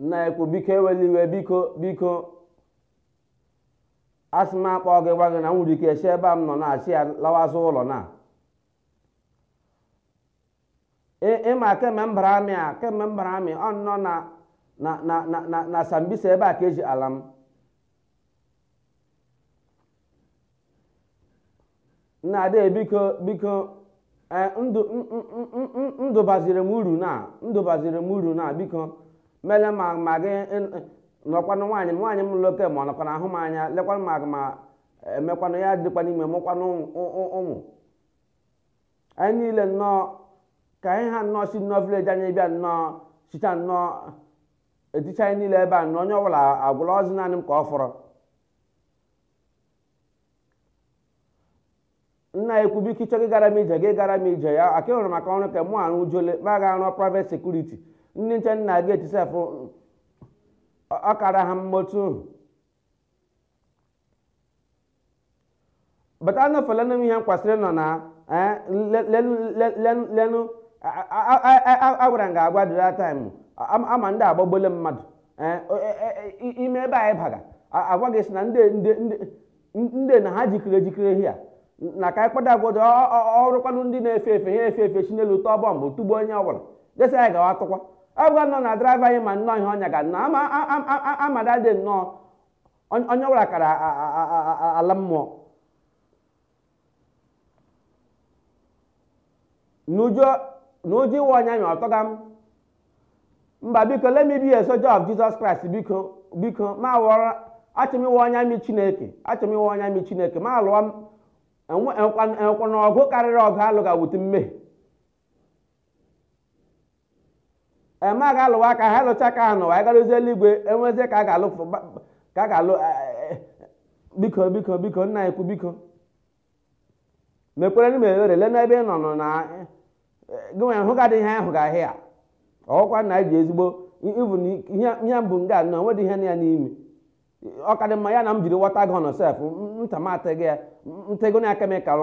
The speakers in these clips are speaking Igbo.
nna ukwu biko ewele iwe biko biko asị m akpọ gị gwa gị na m nwere ike esi ebe a m nọ na-achị ya lawazi ụlọ na ịma kemgbe m bara army a kemgbe m bara army ọ nọ na na na na na Sambisa ebe a ka e zigara m nna ade biko biko ee ndụ m- m- m- m- m- ndụ baziri m uru na ndụ baziri m uru na biko mele ma ma gị ị- nọkwanụ nwaanyị m nwaanyị m loke ma ọ nọkwana ahụ m anya lekwanụ mama m kwanụ ya dịkwana ime mụkwanụ ụmụ- ụmụ ụmụ anyị niile nnọọ ka anyị ha nnọọ si nnọọ village anyị bịa nnọọ sita nnọọ eticha anyị niile ebe a nnọọ onye ọbụla agwụlazị naanị m ka ọ fọrọ nna ukwu biko ịchọ gị gara m ije gị gara m ije ya ka ị hụrụ m aka ọrụ ka mụ arụ o zuole m ga-arụ private security ndị nche na gate sef ọ kara ha mma otu bata anọfelenụ m ihe m kwesịrị ịnọ na eh, le- le- le- le- lenụ a- a- a- a- a- agwara m gị agwa dịra time ama ndị a agbagbuole mmadụ eh, o- e- e- e- ime ebe anyị baga a- a gwa gị sị na ndị ndị ndị- ndị na ha jikere ejikere hia na ka anyị kpọda agwọdị ọrụkwanụ ndị na-efe efe ha efe efe si n'elu tụọ bomb tugbuo onye ọbụla ga-asị anyị gawa tụkwa agwa nọ na driver anyị ma nnọọ ihe ọ nyaga nnọọ ama a- a- a- a- amada dị nnọọ Onye onye ọbụla kara a- a- a- a- a- ala mmụọ. N'ụjọ n'ụjọ ịwụ onye army atụga m. Mba biko let me be a soldier of Jesus Christ biko biko ma wọrọ achọ m ịwụ onye army Chineke achọ m ịwụ onye army Chineke ma alụwa m enwe- enwekwa enwekwa na ọgụ karịrị ọgụ a lụga with mmehie ị ma ga-alụwa ka ha lụcha ka ha n'ụwa ị garuzi eluigwe e nwezie ka a ga-alụ ka a ga-alụ biko biko biko nna ukwu biko mekwaranụ m ebere lee n'ebe ị nọ nọ na gị nwere hụ gadị ihe ahụ ga ahịa ọkwa na anyị ji ezigbo ivu ihe mbụ nga nọ nwedị ihe nọ ya n'ime ọ ka dị mma ya na m jiri water gun sef nta m atịghị ya ntego na chemical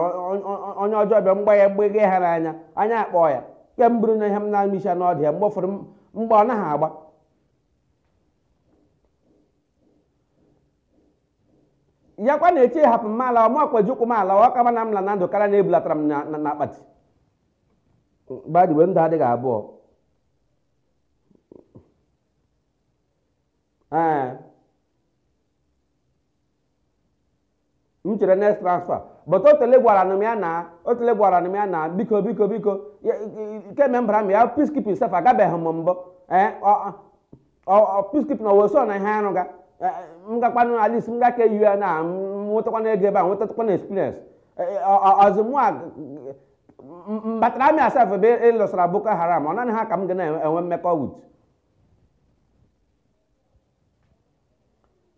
onye ọjọọ bịa m gbaa ya gbeghe ha n'anya anya akpọọ ya ke m bụrụ na ihe m na-amị isi n'ọdị ya mgbe ụfọdụ mgbe ọ naghị agba ya kwa na-eche hapụ m alawa m ka ji ụkwụ m alawa ọ ka mma na m la na ndụ karịa na e bulatara m na na akpati by the way ndụ adịghị abụọ ee m chere next transfer but otele gwara na m ya na otele gwara na m ya na biko biko biko kemgbe m bara army a peacekeeping sef agabeghị m mbụ ee peacekeeping na oversea na ihe arụ ga m gakwanụ at least m ga ka eyi ya na m nwetakwana ego ebe a nwetakwana experience ọzọ mụ a batara army a sef ebe ịlụsara boko haram ọ naanị ha ka m ga na-enwe mmekọ with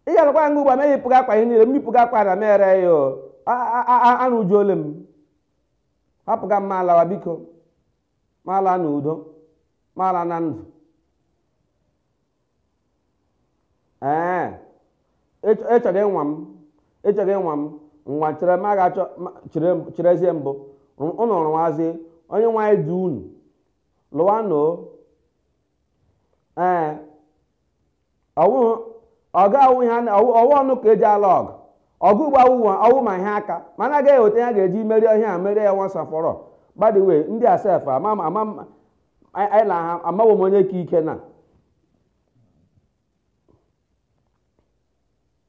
ị ga-alụkwa nga ugbu a m eyipụga akwa ihe niile m yipụga akwa na mere ya o arụjuole m hapụga m m alawa biko m ala na udo m ala na ndụ ee ịchọrọ ịnwa m ịchọrọ ịnwa m nwa chere m a ga-achọ cherezie mbụ ụnụ rụwazie onye nwaanyị dị unu lụwanụ o ee ọ wụ ọgụ awụ ihe a na- ọ wụ ọ wụ ọnụ ka e ji alụ ọgụ ọgụ ugbu a wụ wa- ọ wụ ma ihe aka mana a gaghị eweta ya ga-eji merie ihe a merie ya once and for all by the way ndị a sef ama m- ama m- anyị anyị na ha amawo m onye ka ike na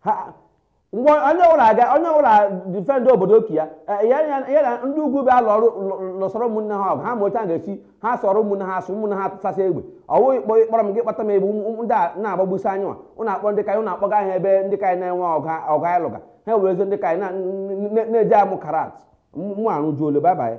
ha ngwa onye ọbụla aga onye ọbụla defend obodo nke ya eh, ya ya- ya na ndị ugwu bịa lụrụ lụ- lụsọrọ ụmụnne ha ọgụ ha ma otu a ga-esi ha sọrọ ụmụnne ha asụ ụmụnne ha tụsasị egbe ọ wụ ịkpọ ịkpọrọ m gị kpata m egbe ụmụ- ụmụ- ndị a na-agbagbusi anyị nwa ụnụ akpọ ndị ka anyị ụnụ akpọga ha ebe ndị ka anyị na-enwe ọgụ ha- ọgụ anyị lụga ha ewerezie ndị ka anyị na- n- n- na-eji amụ karate mụ arụjuole bye bye